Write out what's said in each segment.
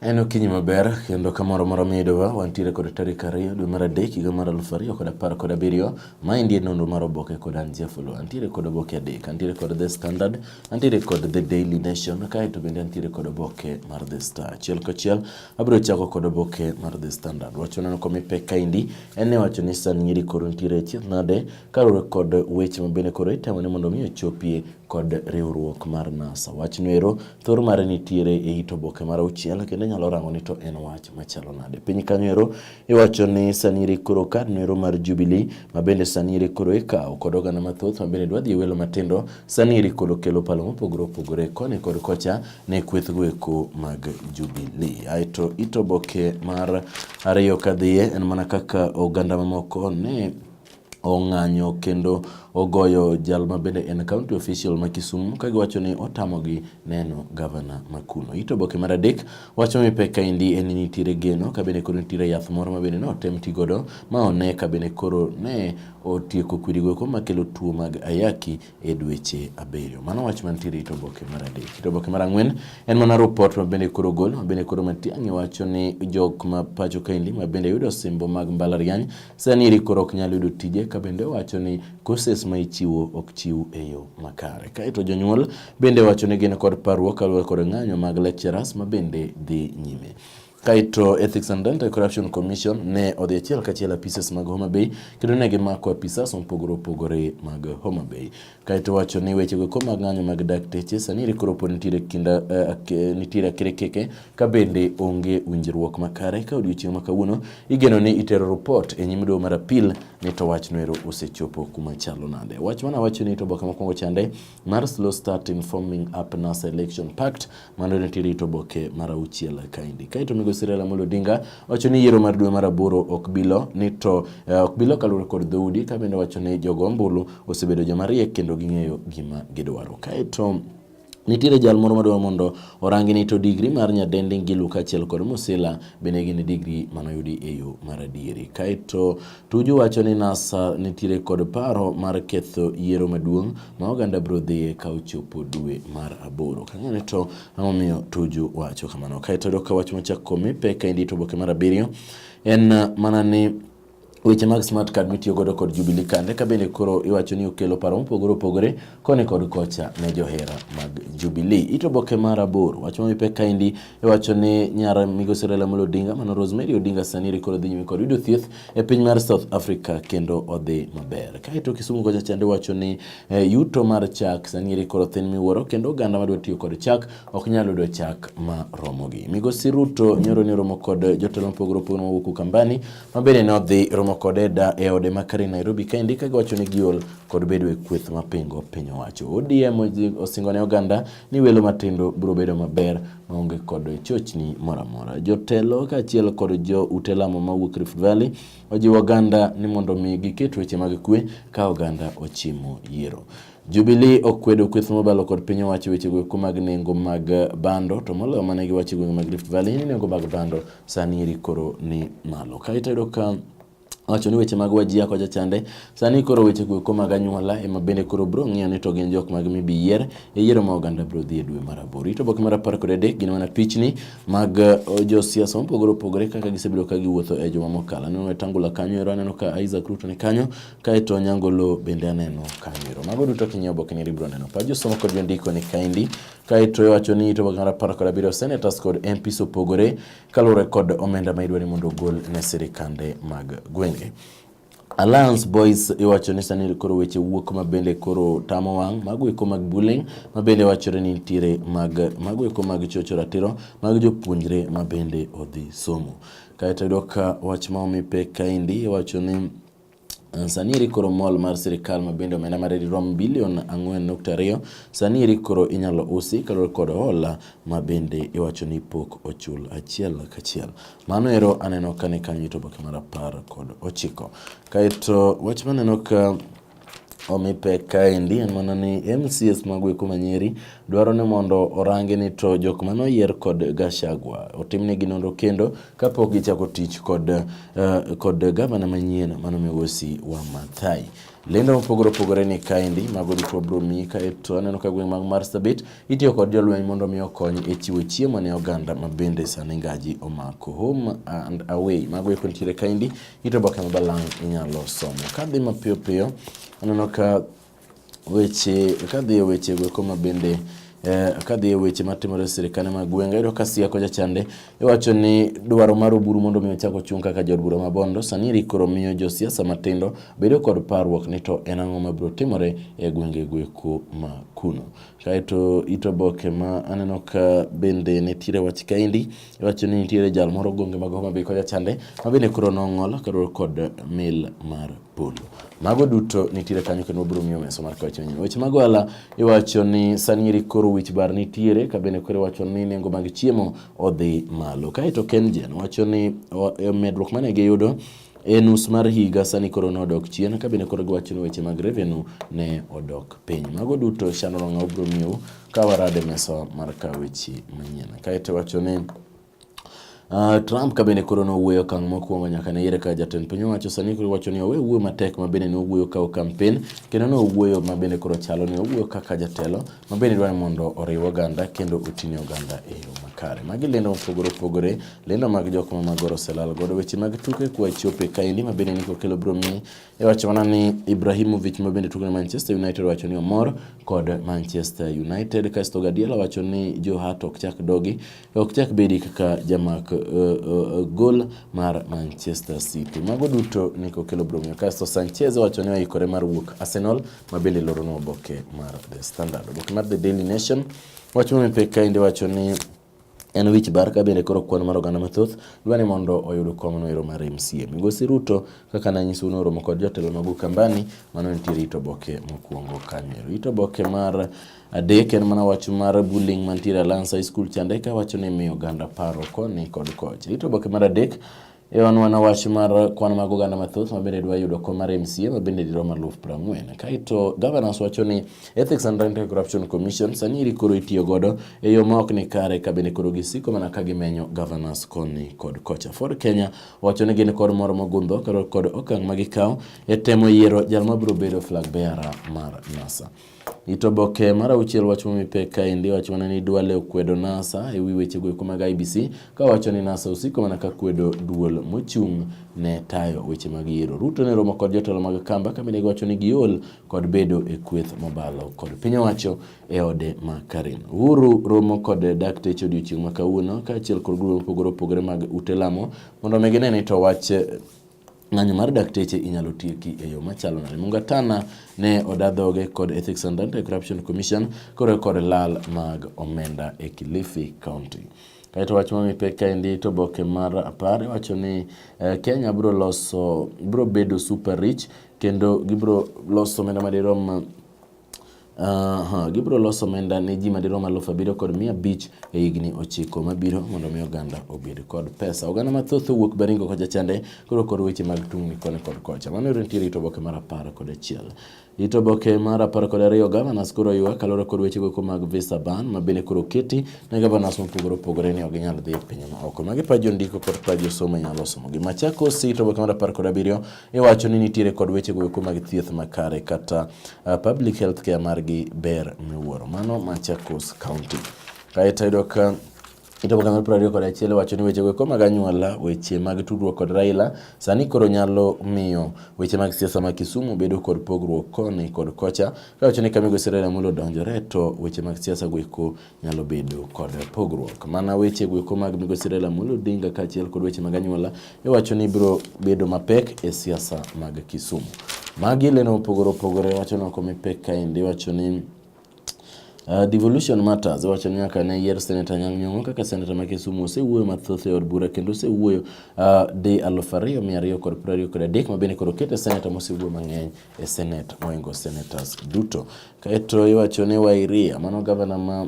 En okinyi maber kendo kamoro moro midowa wantiere kod tarik ariyo dwe mar adek higa mar aluf ariyo kod apar kod abiriyo ma endi e nonro mar oboke kod an Jafulu. Antiere kod oboke adek, antiere kod The Standard, antiere kod The Daily Nation kaeto bende antiere kod oboke mar The Star. Achiel kachiel abiro chako kod oboke mar The Standard. Wach maneno komi pek kaendi en ni wacho ni sani nyiri koro nitiere e chieth nade kaluwore kod weche ma bende koro itemo ni mondo mi ochopie kod riwruok mar NASA. Wachno ero Thor mare nitiere e it oboke mar auchiel kendo inyalo rango ni to en wach machalo nade. Piny kanyo ero iwacho ni sanire koro kad noero mar Jubilee ma bende sanire koro ikawo kod oganda mathoth ma bende dwa dhi e welo matindo sanire koro kelo palo mopogore opogore koni kod kocha ne kwethgo eko mag Jubilee. Aeto it oboke mar ariyo kadhiye en mana kaka oganda mamoko ne ong'anyo kendo ogoyo jal ma bende en county official ma Kisumu ka giwacho ni otamogi neno gavana ma kuno. Ito boke mar adek wacho ni pek kaendi en ni nitiere geno ka bende koro nitiere yath moro ma bende notem ti godo ma one ka bende koro ne otieko kwirigo eko makelo tuo mag ayaki e dweche abiriyo. Mano wach mantiere e oboke mar adek. E oboke mar ang'wen en mana rupot ma bende koro gol ma bende koro Matiang'i wacho ni jok ma pacho kaendi ma bende yudo osimbo mag mbalariany sani eri koro ok nyal yudo tije ka bende wacho ni courses ma ichiwo ok chiw e yo makare. Kaeto jonyuol bende wacho ni gin kod parruok kaluwore kod ng'anyo mag lecturers ma bende dhi nyime. Kaito Ethics and Anti-Corruption Commission ne odhi achiel kachiel apises mag Homa Bay kendo ne gimako apisas mopogore opogore mag Homa Bay. Kaito wacho ni weche go mag ng'anyo mag dakteche sani rikoro pod nitiere kinda uh, nitiere akrekeke ka bende onge winjruok makare ka odiochieng' ma kawuono igeno ni itero report e nyim doho mar apil ni to wach noero osechopo kuma chalo nade. Wach mana wacho ni to boka mokwongo chande mar slow start in forming up NASA election pact mano ne tiri to boke mar auchiel kaendi. Kae to migosi Raila Amolo Odinga wacho ni yiero mar dwe mar aboro ok bilo ni to eh, ok bilo kaluwore kod dhoudi ka bende wacho ni jogo ombulu osebedo joma riek kendo ging'eyo gima gidwaro. Kae to Nitiere jal moro madwaro mondo orangi ni to digri mar nyadendi Ngilu kaachiel kod Musila bende gin digri manoyudi e yo mar adieri. Kaeto Tuju wacho ni NASA nitiere kod paro mar ketho yiero maduong' ma oganda biro dhiye ka ochopo dwe mar aboro. Kang'ane to ang'omiyo Tuju wacho kamano. Kaeto dok ka wach machak komi pek ka indito oboke mar abiriyo en mana ni Weche mag smart card mitiyo godo kod Jubilee Kande ka bende koro iwacho ni okelo paro mopogore opogore koni kod kocha ne johera mag Jubilee. Ito boke mar aboro wach ma mipe kaendi iwacho ni nyar migosi Raila Amolo Odinga mano Rosemary Odinga sani eri koro dhi nyime kod yudo thieth e piny mar South Africa kendo odhi maber. Kaeto Kisumu kocha chande wacho ni eh, yuto mar chak sani eri koro thin miwuoro kendo oganda madwa tiyo kod chak ok nyal yudo chak ma romogi. Migosi Ruto nyoro ni romo kod jotelo mopogore opogore mawuok Ukambani ma bende ne odhi romo kode da e ode ma Karen Nairobi kaendi ka giwacho ni giol kod bedo e kweth mapingo piny owacho. ODM osingo ne oganda ni welo matindo biro bedo maber maonge kod chochni moro amora. Jotelo kaachiel kod jo ute lamo mawuok Rift Valley ojiwo oganda ni mondo mi giket weche mag kwe ka oganda ochimo yiero. Jubilee okwedo kweth mobalo kod piny owacho weche goeko mag nengo mag bando to moloyo mane giwacho gwenge mag Rift Valley ni nengo mag bando sani eri koro ni malo. Kae to ka wacho ni weche mag wajia kocha chande sani koro weche go eko mag anyuola ema bende koro bro ng'iyo ni to gin jok mag mibi yier e yiero ma oganda bro dhi e dwe mar aboro ito boke mar apar kod adek gin mana pichni mag uh, josiasa mopogore opogore kaka gisebedo ka giwuotho e joma mokalo aneno wetangula kanyo ero aneno ka Isaac Ruto ni kanyo kaeto Nyangolo bende aneno kanyo ero mago duto king'iyo boke ni bro neno pa josomo kod jondiko ni kaendi kaeto iwacho ni ito boke mar apar kod abiriyo senators kod MPs opogore kaluwore kod omenda ma idwa ni mondo ogol ne sirikande mag gwenge. Alliance Boys iwacho ni sani koro weche wuok ma bende koro tamo wang' mago eko mag bullying ma bende wachore ni nitiere mag mago eko mag chocho ratiro mag jopuonjre ma bende odhi somo. Kaeto yudo ka wach ma omi pek kaendi iwacho ni Sani eri koro mall mar sirkal ma bende omenda mare dirom bilion 4.2 sani eri koro inyalo usi kaluwore kod hola ma bende iwacho ni pok ochul achiel kachiel. Mano ero aneno ka ni kanyo to oboke mar apar kod ochiko. Kaeto wach maneno ka omi pek kaendi en mana ni MCS mago eko manyeri dwaro ni mondo orangi ni to jok mane oyier kod Gachagua otimnegi nonro kendo kapok gichako tich kod, uh, kod gavana manyien mano migosi wa Mathai. Lendo mopogore opogore ni kaendi mago duto wabiro miyi kaeto aneno ka gweng' mag Marsabit itiyo kod jolweny mondo mi okony e chiwo chiemo ne oganda ma bende sani ngaji omako home and away mago eko nitiere kaendi ito oboke ma balang' inyalo somo. Kadhi mapiyo piyo aneno ka weche kadhi e weche go koma bende Eh, kadhi e weche matimore e sirkande mag gwenge ayudo ka siako jachande iwacho ni dwaro mar oburu mondo mi ochak ochung' kaka jod bura ma bondo sani rikoro miyo josiasa matindo bedo kod parruok ni to en ang'o mabiro timore e gwenge gweko ma kuno kaeto ito boke ma aneno ka bende nitiere wach kaendi iwacho ni nitiere jal moro gwenge mag Homa Bay kocha chande ma bende koro nong'ol kaluwore kod mil mar polo. Mago duto nitiere kanyo kendo wabiro ng'iyo mesa mar kawacho nyime. Weche mag ohala iwacho ni sani eri koro wich bar nitiere ka bende koro iwacho ni nengo mag chiemo odhi malo. Kaeto Kengen wacho ni e, medruok mane giyudo e nus mar higa sani koro ne odok chien ka bende koro giwacho ni weche mag revenue ne odok piny. Mago duto Shannon Ong'aw biro miyou ka warade mesa mar kaweche manyien. Kaeto wacho ni Uh, Trump ka bende koro nowuoyo okang' mokwongo nyaka ne yiere ka jatend piny owacho sani koro wacho ni owe wuoyo matek ma bende nowuoyo ka kampen kendo nowuoyo ma bende koro chalo ni owuoyo kaka jatelo ma bende dwaro mondo oriw oganda kendo oting'e oganda e yo makare. Magi lendo mopogore opogore, lendo mag jok ma magoro selal godo weche mag tuke kwa chope kaendi ma bende niko kelo bro mi E wach mana ni Ibrahimovic ma bende tugo ne Manchester United wacho ni omor kod Manchester United kasto Guardiola wacho ni Joe Hart ok chak dogi ok chak bedi kaka jamak uh, uh, gol mar Manchester City. Mago duto ni kokelo bromio. Kasto Sanchez wacho ni oikore mar wuok Arsenal ma bende loro no oboke mar The Standard. Oboke mar The Daily Nation wacho ni pek kainde wacho ni En wich bar ka bende koro kwan mar oganda mathoth dwa ni mondo oyud kom no ero mar MCA. Migosi Ruto kaka nanyiso un oromo kod jotelo mag Ukambani mano nitie rito boke mokuongo kanyo ero. Rito boke mar adek en mana wach mar bullying mantiere Alliance High School chande ka wacho ni miyo oganda paro koni kod kocha. Rito boke mar adek E wan wana wach mar kwan mag oganda mathoth mabende dwa yudo kom mar MCA mabende dirom aluf prang'wen. Kaeto governors wacho ni Ethics and Anti Corruption Commission sani iri koro itiyo godo e yo ma ok ni kare ka bende koro gisiko mana ka gimenyo governors koni kod kocha. Ford Kenya wacho ni gin kod moro mogundho kod okang' ma gikawo e temo yiero jal mabiro bedo flag bearer mar NASA. Itoboke mar auchiel wacho momi pek kaendi wacho mana ni Duale okwedo NASA e wi wechego eko mag IBC ka wacho ni NASA osiko mana ka kwedo duol mochung' ne tayo weche mag yiero. Ruto ne romo kod jotelo mag Kamba ka bende giwacho ni giol kod bedo e kweth mobalo kod piny owacho e ode ma Karen. Uhuru romo kod dakteche odiochieng' ma kawuono kaachiel kod grube mopogore opogore mag ute lamo mondo omi gine ni to wach Ng'anyo mar dakteche inyalo tieki e yo machalo nade? Mungatana ne oda dhoge kod Ethics and Anti-Corruption Commission koro kod lal mag omenda e Kilifi County. Kaeto wach ma mipek kaendi to boke mar apar iwacho ni eh, Kenya bro loso bro bedo super rich kendo gibro loso omenda madirom Aha, gibiro loso omenda ne ji madirom alufu abiriyo kod mia abich e higni ochiko mabiro mondo mi oganda obed kod pesa. Oganda mathoth owuok Baringo kocha chande koro kod weche mag tungni koni kod kocha. Mano yore nitiere ito boke mar apar kod achiel. Ito boke mar apar kod ariyo gavanas koro ywak kaluwore kod weche goeko mag visa ban ma bende koro keti ne gavanas mopogore opogore ni ok ginyal dhi e pinje ma oko. Magi pa jondiko kod pa josomo nyalo somo gi. Machakos ito boke mar apar kod abiriyo iwacho ni nitiere kod weche goeko mag thieth makare kata uh, public health care margi ber miwuoro mano Machakos County kaeto yudo ka Kitabu kama piero ariyo kod achiel wacho ni weche goeko mag anyuola, weche mag tudruok kod Raila sani koro nyalo miyo weche mag siasa ma Kisumu bedo kod pogruok koni kod kocha. Ka wacho ni ka migosi Raila Amolo odonjore to weche mag siasa goeko nyalo bedo kod pogruok. Mana weche gweko mag migosi Raila Amolo Odinga kaachiel kod weche mag anyuola iwacho ni biro bedo mapek e siasa mag Kisumu. Magi leno mopogore opogore wacho ni ok omi pek kaendi iwacho ni Uh, devolution matters wacho ni nyaka ne yier Senator Anyang' Nyong'o kaka Senator ma Kisumu osewuoyo mathoth e od bura kendo osewuoyo uh, di aluf ariyo mia ariyo kod piero ariyo kod adek ma bende koro okete Senator mosewuoyo mang'eny e Senate moingo senators duto. Kaeto iwacho ni Wairia, mano gavana ma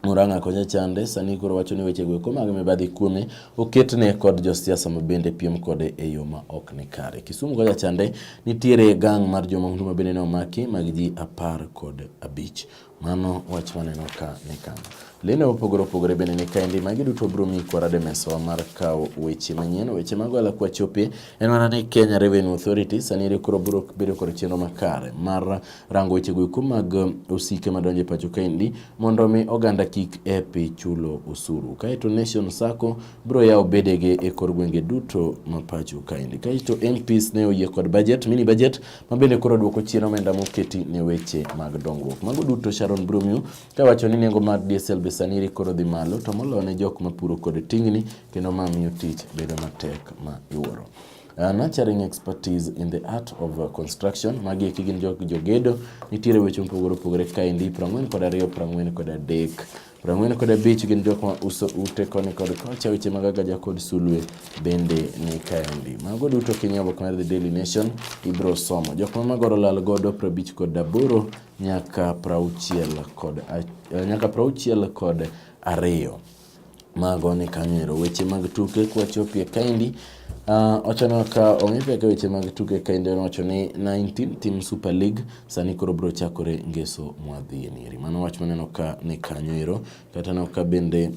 Murang'a konya chande sani koro wacho ni weche go eko mag mibadhi kuome oketne kod josiasa ma bende piem kode e yo ma ok ni kare. Kisumu konya chande nitiere gang mar jomahundu ma bende ne omaki mag ji apar kod abich. Mano wach maneno ka ni kama. Lendo mopogore opogore bende ni kaendi magi duto biro miyi kwarade mesawa mar kawo weche manyien weche mago ala kwa chopie en mana ni Kenya Revenue Authority sani ere koro biro bedo kod chenro makare mar rango weche go eko mag um, osike madonjo e pacho kaendi mondo mi oganda kik epi chulo osuru kaeto Nation Sacco biro yawo bedege e kor gwenge duto ma pacho kaendi kaeto MPs ne oyie kod budget mini budget ma bende koro dwoko chien omenda moketi ne weche mag dongruok. Mago duto Sharon Brumio ka wacho ni nengo mar diesel be sani koro dhi malo to moloyo ne jok mapuro kod tingni kendo ma miyo tich bedo matek ma iwuoro. Uh, nurturing expertise in the art of uh, construction magi eki gin jok jogedo nitiere weche mopogore opogore kaendi prang'wen kod ariyo prang'wen kod adek Prang'wen kod abich gin jok ma uso ute koni kod kocha, weche mag agaja kod sulwe bende ni kaendi. Mago duto kinyo oboke mar The Daily Nation ibro somo. Jok ma magoro lal godo prabich kod aboro nyaka prauchiel kod eh, nyaka prauchiel kod ariyo. Mago ni kanyo ero. Weche mag tuke kwachopie kaendi Uh, wachano ka ong'e peka weche mag tuke ka inde wacho ni 19 team super league sani koro bro chakore ngeso mwadhi e nieri mano wach maneno ka ni kanyo ero kata no ka bende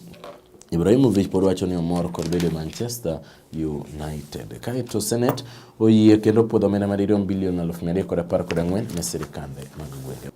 Ibrahimovic pod wacho ni omor kod bedo Manchester United. Kaeto Senate oyie kendo puodho omenda madirom bilion aluf mia adek kod apar kod ang'wen ne sirkande mag gwenge.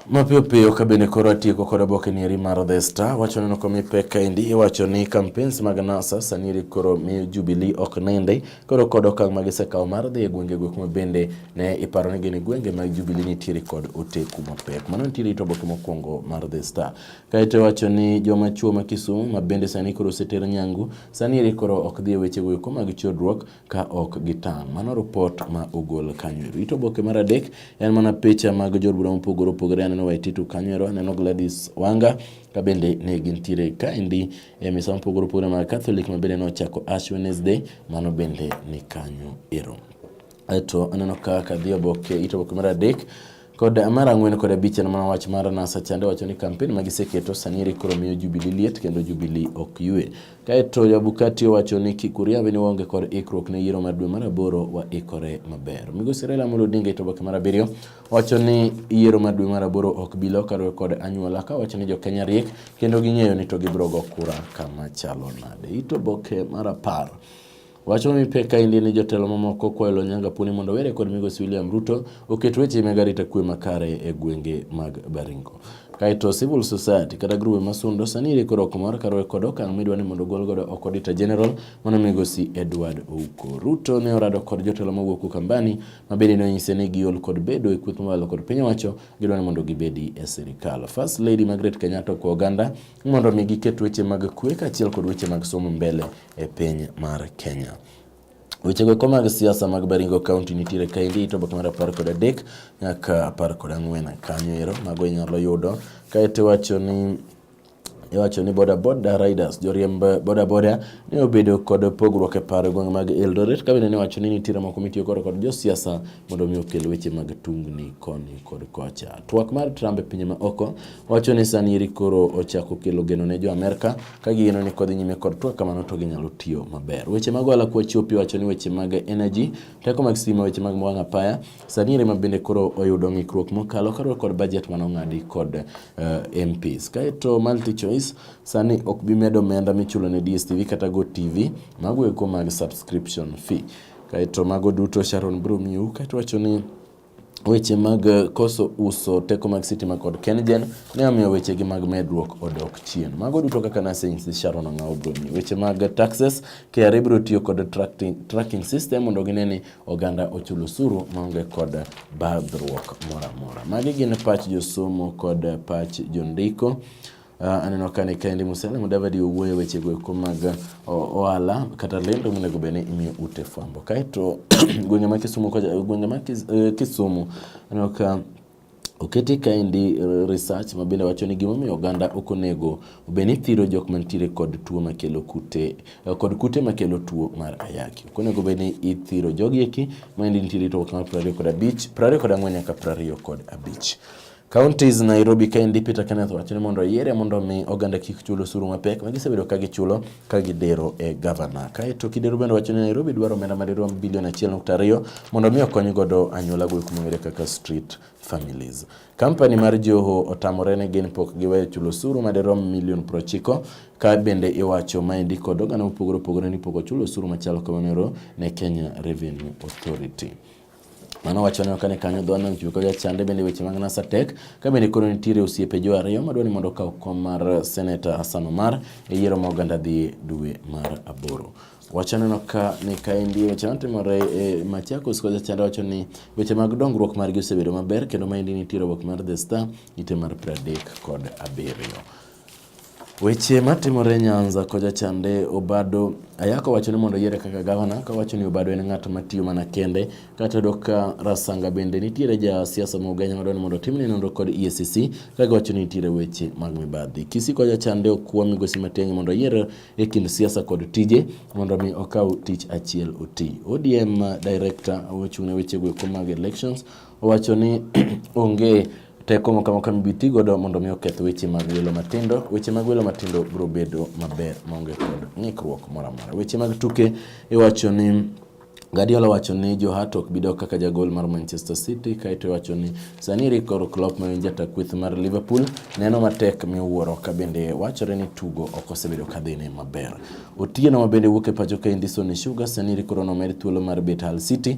Mapiyo piyo ka bende koro atieko kod oboke ni eri mar The Star wacho neno komi pek kaendi iwacho ni campaigns mag NASA sani eri koro miyo Jubilee ok nende koro kod okang' ma gisekawo mar dhi e gwenge go kuma bende ne iparo ni gin gwenge mag Jubilee nitiere kod oteku mapek. Mano nitiere ito oboke mokwongo mar The Star. Kaeto wacho ni joma chuo ma Kisumu ma bende sani koro oseter nyangu sani eri koro ok dhi e weche go eko mag chodruok ka ok gitang'. Mano ripot ma ogol kanyo ero. It oboke mar adek en mana picha mag jood bura mopogore opogore. Aneno Waititu kanyo ero, aneno Gladys Wanga ka bende ne gintiere kaendi e misa mopogore opogore mag Catholic ma bende nochako Ash Wednesday, mano bende ni kanyo ero. Aeto aneno ka kadhi oboke, it oboke mar adek Kod mar ang'wen kod abich en mana wach mar NASA chande wacho ni kampen ma giseketo sani eri koro miyo Jubilee liet kendo Jubilee ok yue. Kaeto Jabukati owacho ni kik uriabe ni waonge kod ikruok ne yiero mar dwe mar aboro waikore maber. Migosi Raila Amolo Odinga ito oboke mar abiriyo wacho ni yiero mar dwe mar aboro ok bi lokore kod anyuola ka wacho ni jo Kenya riek kendo ging'eyo ni to gibiro go kura kama chalo nade. Ito oboke mar apar Wach ma mipek kaendi ni jotelo mamoko kwayo lo Nyanga Puni mondo were kod migosi William Ruto oket weche mag arita kwe makare e gwenge mag Baringo. Kaeto civil society kata grube masundo sani ire koro okomor karuwe kod okang' midwa ni mondo ogol godo oko Auditor General mano migosi Edward Ouko. Ruto ne orado kod jotelo mawuok Ukambani ma bende nonyise ni giol kod bedo e kweth mawalo kod piny owacho gidwa ni mondo gibedi e sirikal. First Lady Margaret Kenyatta okwa oganda mondo mi giket weche mag kwe kaachiel kod weche mag somo mbele e piny mar Kenya. Wechego eko mag siasa mag Baringo County nitiere kaendi ito boke mar apar kod adek nyaka apar kod ang'wen kanyo ero mago inyalo yudo kaeto iwacho ni iwacho ni bodaboda riders joriemb bodaboda ne obedo kod pogruok e paro gwenge mag Eldoret ka bende ne wacho ni nitiere moko mitiyo koro kod josiasa mondo omi okel weche mag tungni koni kod kocha. Twak mar Trump e pinje ma oko wacho ni sani eri koro ochako kelo geno ne jo Amerka Ka gigeno ni kodhi nyime kod twak kamano to ginyalo tiyo maber. Weche mag ohala kwa chopi wacho ni weche mag energy, teko mag stima, weche mag wang' apaya, sani rema bende koro oyudo ng'ikruok mokalo karuok kod budget mano ng'adi kod uh, eh, MPs. Kaeto multi choice sani ok bi medo omenda michulo ne DSTV kata Go TV mago eko mag subscription fee. Kaeto mago duto Sharon Broom New kaeto wacho ni weche mag eh, koso uso teko mag sitima kod KenGen ne omiyo wechegi mag medruok odok chien. Mago duto kaka nasings Sharon Ang'awo Bruni. Weche mag taxes, KRA biro tiyo kod tracking, tracking system mondo gine ni oganda ochul osuru maonge kod badhruok moro amora. Magi gin pach josomo kod pach jondiko. Uh, aneno ka ni Kennedy Musele Mudavadi owuoyo weche go eko mag ohala kata lendo monego bed ni imiyo ute fwambo. Kaeto gwenge ma Kisumu gwenge ma eh, Kisumu aneno ka Oketi kaendi eh, research ma bende wacho ni gimomiyo oganda ok onego obed ni thiro jok mantiere kod tuo makelo kute eh, kod kute makelo tuo mar ayaki. Ok onego obed ni ithiro jogi eki ma endi nitiere to kama 20 kod abich, 24 nyaka 25. Counties Nairobi kaendi Peter Kenneth wacho ni mondo oyiere mondo omi oganda kik chul osuru mapek ma gisebedo ka gichulo ka gidero e gavana. Kaeto Kidero bende wacho ni Nairobi dwaro omenda madirom bilion 1.2 mondo omi okony godo anyuola go kuma ong'ere kaka street families. Kampani mar Joho otamore ni gin pok giweyo chulo osuru madirom milion 90 ka bende iwacho maendi kod oganda mopogore opogore ni pok ochulo osuru machalo kamano ne Kenya Revenue Authority. Mano wacho ni kane kanyo dho nam chumbi kodwa chande bende weche mag NASA tek ka bende koro nitiere osiepe jo ariyo madwa ni mondo okaw kom mar Senator Hassan Omar e yiero ma oganda dhi dwe mar aboro. Wachaneno ka ni kaendi weche matimore e Machakos kocha chande wacho ni weche mag dongruok margi osebedo maber kendo maendi nitiere obok mar The Star ite mar 37. Weche matimore Nyanza koja chande Obado ayako wacho ni mondo yiere kaka gavana ka wacho ni Obado en ng'at matiyo mana kende kata yudo ka Rasanga bende nitiere ja siasa ma Ugenya madwa ni mondo timne nonro kod EACC kaka wacho ni nitiere weche mag mibadhi. Kisii koja chande okwa migosi Matiang'i mondo yier e kind siasa kod tije mondo mi okaw tich achiel oti. ODM director ochung' ne weche go mag elections Owacho ni onge teko moko amoko mibi ti godo mondo mi oketh weche mag welo matindo. Weche mag welo matindo biro bedo maber maonge kod ng'ikruok moro amora. Weche mag tuke iwacho ni Guardiola wacho ni Joe Hart ok bidok kaka jagol mar Manchester City kaeto wacho ni sani Rico Klopp ma en jata kweth mar Liverpool neno matek miwuoro ka bende wachore ni tugo ok osebedo ka dhine maber. Otieno ma bende wuok e pacho ka Indison Sugar sani Rico nomed thuolo mar bet Hull City